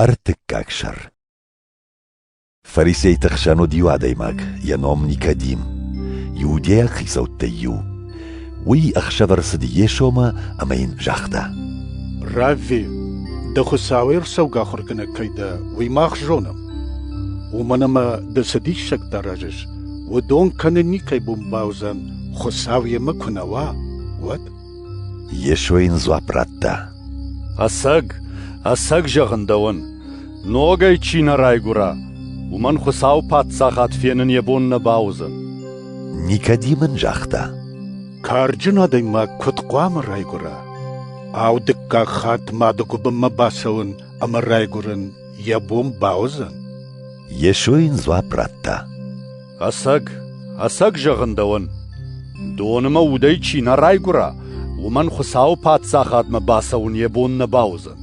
Ӕртыккаг сӕр Фарисейты хсӕн уыд иу адӕймаг, йӕ ном Никодим. Иудейаг хицӕуттӕй иу. Уый ӕхсӕв ӕрцыд Йесомӕ ӕмӕ йын загъта: «Равви, дӕ Хуыцауӕй ӕрцӕугӕ ахуыргӕнӕг кӕй дӕ, уый мах зонӕм. Уымӕн ӕмӕ ды цы диссӕгтӕ аразыс, уыдон кӕнын никӕй бон бауыдзӕн, Хуыцау йемӕ куы нӕ уа, уӕд». Йесо йын дзуапп радта. Ӕцӕг, ӕцӕг зӕгъын дӕуӕн, ногӕй чи нӕ райгуыра, уымӕн Хуыцауы Паддзахад фенын йӕ бон нӕ бауыдзӕн. Никодим ын загъта. Карджын адӕймаг куыд хъуамӕ райгуыра? Ау, дыккаг хатт мады гуыбынмӕ бацӕуын ӕмӕ райгуырын йӕ бон бауыдзӕн? Йесо йын дзуапп радта. Ӕцӕг, ӕцӕг зӕгъын дӕуӕн, доны мӕ удӕй чи нӕ райгуыра, уымӕн Хуыцауы Паддзахадмӕ бацӕуын йӕ бон нӕ бауыдзӕн.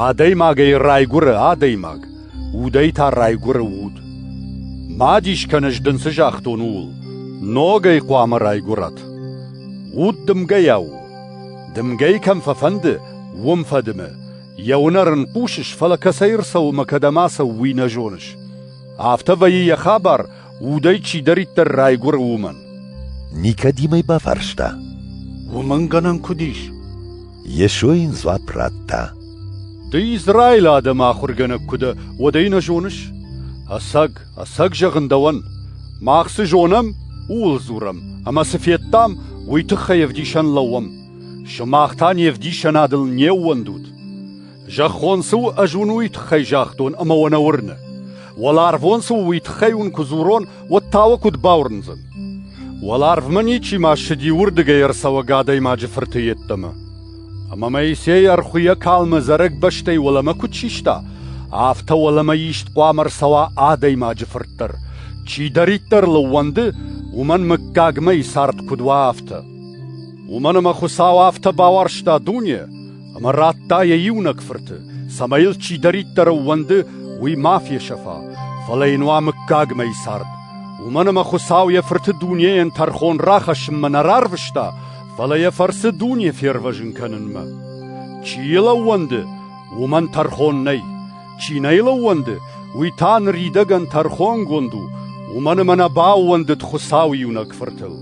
Адӕймагӕй райгуыры адӕймаг, удӕй та райгуыры уд. Ма дис кӕн, ӕз дын цы загътон, ууыл. Ногӕй хъуамӕ райгуырат. Уд дымгӕйӕ у. Дымгӕйы кӕм фӕфӕнды, уым фӕдымы. Йӕ уынӕр ын хъусыс, фӕлӕ кӕцӕй ӕрцӕуы мӕ кӕдӕм ацӕуы, уый нӕ зоныс. Афтӕ вӕййы йӕ хабар, удӕй чидӕриддӕр райгуыры, уымӕн. Никодимӕй бафарста. Уымӕн гӕнӕн куыд ис? Йесо йын дзуапп радта. Ды Израилы адӕмы ахуыргӕнӕг куы дӕ, уӕд ӕй нӕ зоныс? Ӕцӕг, ӕцӕг зӕгъын дӕуӕн. Мах цы зонӕм, ууыл дзурӕм, ӕмӕ цы федтам, уый тыххӕй ӕвдисӕн лӕууӕм. Сымах та не вдисӕнадыл не ууӕндут. Зӕххон цы у, ӕз уын уый тыххӕй загътон ӕмӕ уӕ нӕ уырны. Уӕларвон цы у, уый тыххӕй уын куы дзурон, уӕд та уӕ куыд бауырндзӕн? Уӕларвмӕ ничи ма ссыди уырдыгӕй ӕрцӕуӕг адӕймаджы фырты йеддӕмӕ. Ӕмӕ Моисей ӕрхуыйӕ калмы зарӕг бӕстӕй уӕлӕмӕ куыд систа, афтӕ уӕлӕмӕ ист хъуамӕ ӕрцӕуа адӕймаджы фырт дӕр. Чидӕриддӕр лыууӕнды, уымӕн мыггагмӕ цард куыд уа, афтӕ. Уымӕн ӕмӕ Хуыцау афтӕ бауарзта дуне, Ӕмӕ радта йӕ иунӕг фырты, цӕмӕй йыл чидӕриддӕр ӕууӕнды, уый ма фесӕфа, фӕлӕ йын уа мыггагмӕ цард. Уымӕн ӕмӕ Хуыцау йӕ фырты дунейӕн тӕрхон рахӕссынмӕ нӕ рарвыста, фӕлӕ йӕ фӕрцы дуне фервӕзын кӕнынмӕ. Чи йыл ӕууӕнды, уымӕн тӕрхон нӕй. Чи нӕ йыл ӕууӕнды, уый та ныридӕгӕн тӕрхонгонд у, уымӕн ӕмӕ нӕ баууӕндыд Хуыцау иунӕг фыртыл.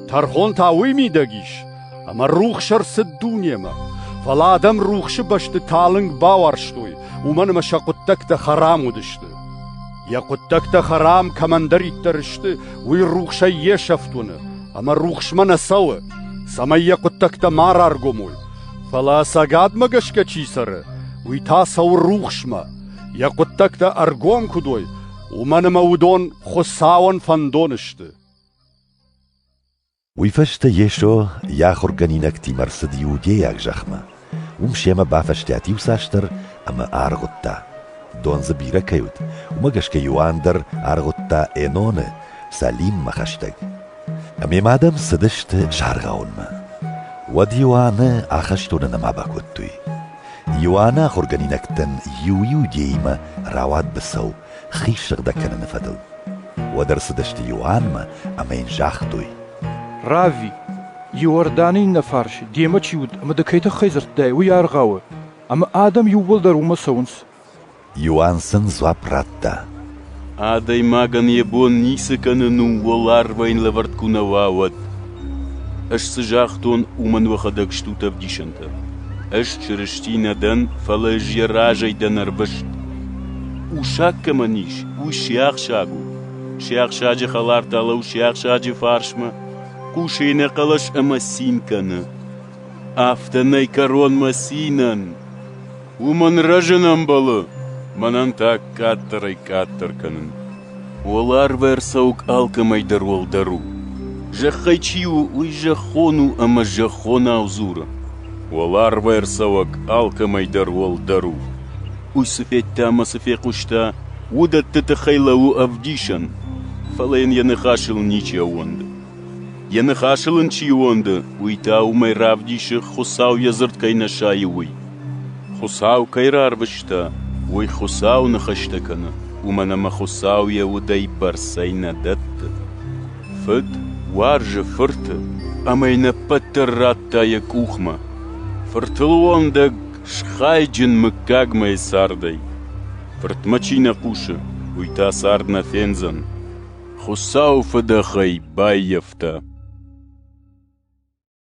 Тӕрхон та уый мидӕг ис, Ӕмӕ рухс ӕрцыд дунемӕ. Фӕлӕ адӕм рухсы бӕсты талынг бауарзтой, уымӕн ӕмӕ сӕ хъуыддӕгтӕ хӕрам уыдысты. Йӕ хъуыддӕгтӕ хӕрам кӕмӕндӕриддӕр сты, уый рухсӕй йе сӕфт уыны, ӕмӕ рухсмӕ нӕ цӕуы, цӕмӕй йӕ хъуыддӕгтӕ ма раргомой. Фӕлӕ цӕгатмӕ гӕсгӕ чи цӕры, уый та цӕуы рухсмӕ, йӕ хъуыддӕгтӕ ӕргом куыд уой, уымӕн ӕмӕ уыдон Хуыцауӕн фӕндон сты. Уый фӕстӕ Йесо йӕ ахуыргӕнинӕгтимӕ рцыд иудейаг зӕхмӕ. Уым семӕ бафӕстиат иуцасдӕр ӕмӕ аргъуыдта, дон дзы бирӕ кӕй уыд, уымӕ гӕсгӕ Иоанн дӕр аргъуыдта Эноны Салиммӕ хӕстӕг. Ӕмӕ ма адӕм цыдысты саргъауынмӕ. Уӕд Иоанны ахӕстоны нӕма бакодтой. Иоанны ахуыргӕнинӕгтӕн иу иудеимӕ рауад быцӕу. хи сыгъдӕг кӕныны фӕдыл. Уӕд ӕрцыдысты Иоаннмӕ ӕмӕ йын загътой. Равви, Иорданы иннӕ фарс демӕ чи уыд ӕмӕ ды кӕй тыххӕй дзырдтай, уый аргъауы, ӕмӕ адӕм иууылдӕр уымӕ цӕуынц. Иоанн сын дзуапп радта. Адӕймагӕн йӕ бон ницы кӕнын у уӕларвӕн лӕвӕрд куы нӕ уа, уӕд. Ӕз цы загътон, уымӕн уӕхӕдӕг стут ӕвдисӕнтӕ. Ӕз Чырысти нӕ дӕн, фӕлӕ ӕз йӕ разӕй дӕн ӕрвыст. Усаг кӕмӕн ис, уый сиахсаг у. Сиахсаджы хӕлар та лӕу сиахсаджы фарсмӕ, хъусы ӕнӕхъӕлӕс ӕмӕ цин кӕны. Афтӕ нӕй кӕронмӕ цинӕн. Уымӕн рӕзын ӕмбӕлы мӕнӕн та къаддӕрӕй-къаддӕр кӕнын. Уӕларв ӕрцӕуӕг алкӕмӕй дӕр уӕлдӕр у. Зӕххӕй чи у, уый зӕххон у ӕмӕ зӕххонау дзуры. Уӕларв ӕрцӕуӕг алкӕмӕй дӕр уӕлдӕр у. Уый цы федта ӕмӕ цы фехъуыста, уыдӕтты тыххӕй лӕууы ӕвдисӕн, фӕлӕ йын йӕ ныхасыл ничи ӕууӕнды. Йӕ ныхасыл ын чи уонды, уый та уымӕй равдисы, Хуыцау йӕ дзырд кӕй нӕ сайы, уый. Хуыцау кӕй рарвыста, уый Хуыцау ныхӕстӕ кӕны, уымӕн ӕмӕ Хуыцау йӕ удӕй бӕрцӕй нӕ дӕтты. Фыд уарзы фырты, ӕмӕ йын ӕппӕт дӕр радта йӕ къухмӕ. Фыртыл уӕндӕг схайджын мыггагмӕ йӕ цардӕй. Фыртмӕ чи нӕ хъусы, уый та цард нӕ фендзӕн. Хуыцауы фыдӕхӕй баййӕфта.